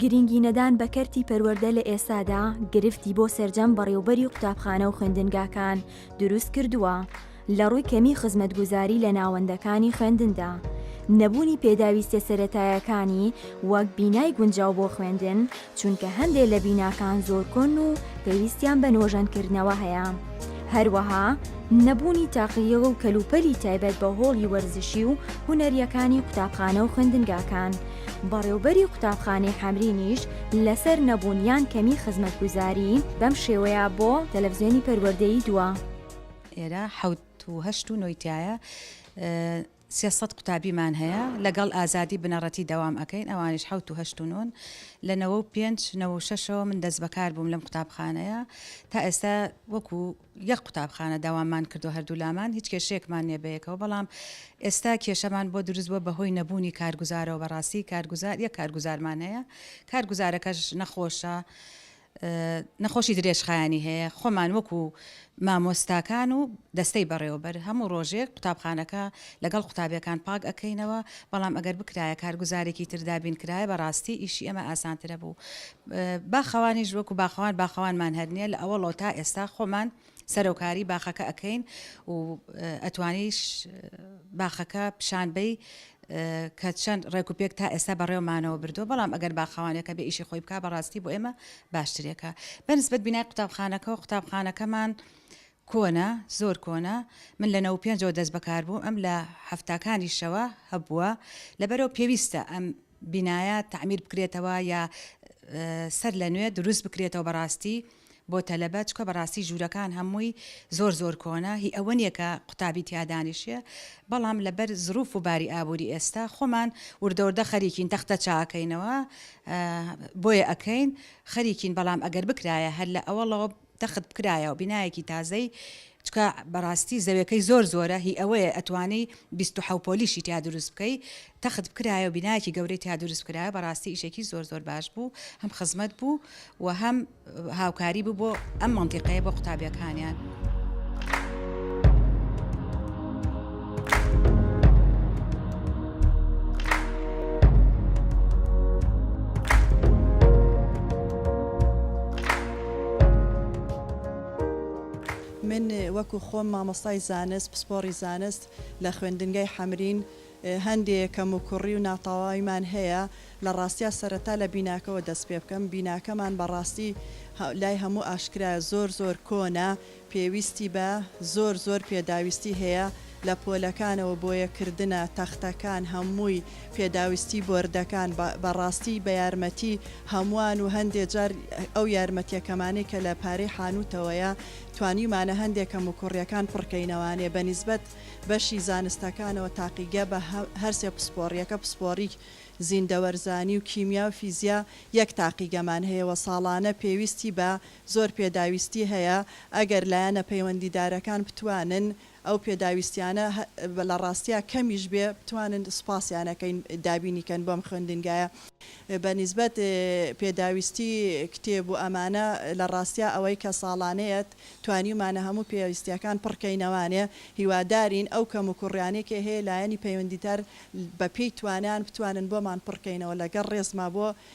گرنگی نەدان بە کەرتی پەروەردە لە ئێستادا گرفتی بۆ سەرجەم بەڕێوبەری قوتابخانە و خوێندنگاکان دروست کردووە لە ڕووی کەمی خزمەتگوزاری لە ناوەندەکانی خوێندندا نەبوونی پێداویستە سەرەتایەکانی وەک بینای گونجاو بۆ خوێندن چونکە هەندێ لە بیناکان زۆر کۆن و پێویستیان بە نۆژەنکردنەوە هەیە هەروەها نەبوونی تاقیەوە و کەلوپەلی تایبەت بە هۆڵی وەرزشی و هوەریەکانی قوتابخانە و خوێندنگاکان بەڕێوبەری قوتابخانەی حەمرینیش لەسەر نەبوون یان کەمی خزمەتگوزاری بەم شێوەیە بۆ تەلەفزیۆنی پەروەردەیی دووا. ئێرە حەوت و هەشت و نۆی تایە سێ سەد قوتابیمان هەیە لەگەڵ ئازادی بنەڕەتی دەوام ئەکەین ئەوانیش حەوت و هەشت و نۆن لە نەوە و پێنج نەوە و شەشەوە من دەست بەکار بووم لەم قوتابخانەیە تا ئێستا وەکو یەک قوتابخانە داوامان کردوە هەردوولامان هیچ کێشەیەکمان نیە بەیەکەوە بەڵام ئێستا کێشەمان بۆ دروست بوە بەهۆی نەبوونی کارگوزارەوە بەڕاستی کارگوزار یەک کارگوزارمان هەیە کارگوزارەکەش نەخۆشە نەخۆشی درێژخایەنی هەیە خۆمان وەکو مامۆستاکان و دەستەی بەڕێوەبەر هەموو ڕۆژێک قوتابخانەکە لەگەڵ قوتابیەکان پاک ئەەکەینەوە بەڵام ئەگەر بکرایە کارگوزارێکی تردابین کرایە بەڕاستی ئیشی ئەمە ئاسانترە بوو باخەوانیش وەکو باخەوان باخەوانمان هەر نیە لە ئەوەڵەوە تا ئێستا خۆمان سەرەوکاری باخەکە ئەکەین و ئەتوانیش باخەکە پیشان بەی کە چەند ڕێک و پێک تا ئێستا بەڕێومانەوە بردو بەڵام ئەگەر باخەوانەکە بە ئیشی خۆی بک بەڕاستی بۆ ئێمە باشترێکە بەنسبەت بینای قوتابخانەکە و قوتابخانەکەمان کۆنە زۆر کۆنە من لە نەو پێنجەوە دەست بەکار بوو ئەم لە هەفتاکانی شەوە هەبووە لەبەرەوە پێویستە ئەم بینایە تەعمیر بکرێتەوە یا سەر لە نوێ دروست بکرێتەوە بەڕاستی بۆ تەلەبە چکە بەڕاستی ژوورەکان هەمووی زۆر زۆر کۆنە هی ئەوە نیە کە قوتابی تیا دانیشێ بەڵام لەبەر زروف و باری ئابووری ئێستا خۆمان وردەوردە خەریکین تەختە چاکەینەوە بۆیە ئەکەین خەریکین بەڵام ئەگەر بکرایە هەر لە ئەوەڵەوە تەخت بکرایە و بینایەکی تازەی چکە بەڕاستی زەوێکەی زۆر زۆرە هی ئەوەیە ئەتوانی بیست و حەو پۆلیشی تیا دروست بکەی تەخت بکرایە و بینایەکی گەورەی تیا دروست بکرایە بەڕاستی ئیشێکی زۆر زۆر باش بوو هەم خزمەت بوو و هەم هاوکاری بوو بۆ ئەم مەنتیقەیە بۆ قوتابیەکانیان. من وەکو خۆم مامۆستای زانست پسپۆڕی زانست لە خوێندنگای حەمرین هەندێ کەم و کوڕی و ناتەواویمان هەیە لە ڕاستیا سەرەتا لە بیناکەەوە دەست پێ بکەم بیناکەمان بەڕاستی لای هەموو ئاشکرایە زۆر زۆر کۆنە پێویستی بە زۆر زۆر پێداویستی هەیە لە پۆلەکانەوە بۆیە کردنە تەختەکان هەمووی پێداویستی بۆردەکان بە ڕاستی بە یارمەتی هەمووان و هەندێ جار ئەو یارمەتیە کەمانەی کە لە پارەی حانوتەوەیە توانیومانە هەندێ کەموکوڕیەکان پڕکەینەوانێ بە نیسبەت بەشی زانستەکانەوە تاقیگە بە هەرسێ پسپۆڕیەکە پسپۆڕی زیندەوەرزانی و کیمیا و فیزیا یەک تاقیگەمان هەیە وە ساڵانە پێویستی بە زۆر پێداویستی هەیە ئەگەر لایەنە پەیوەندیدارەکان بتوانن ئەو پێداویستیانە لە ڕاستیا کەمیش بێ بتوانن سوپاسیان ئەکەین دابینی کەن بۆم خوێندنگایە بە نیسبەت پێداویستی کتێب و ئەمانە لە ڕاستیا ئەوەی کە ساڵانەیە توانیومانە هەموو پێویستیەکان پڕ کەینەوانێ هیوادارین ئەو کەم و کوڕیانەی کە هەیە لایەنی پەیوەندیدار بە پێی توانایان بتوانن بۆمان پڕ کەینەوە لەگەڵ ڕێزما بۆ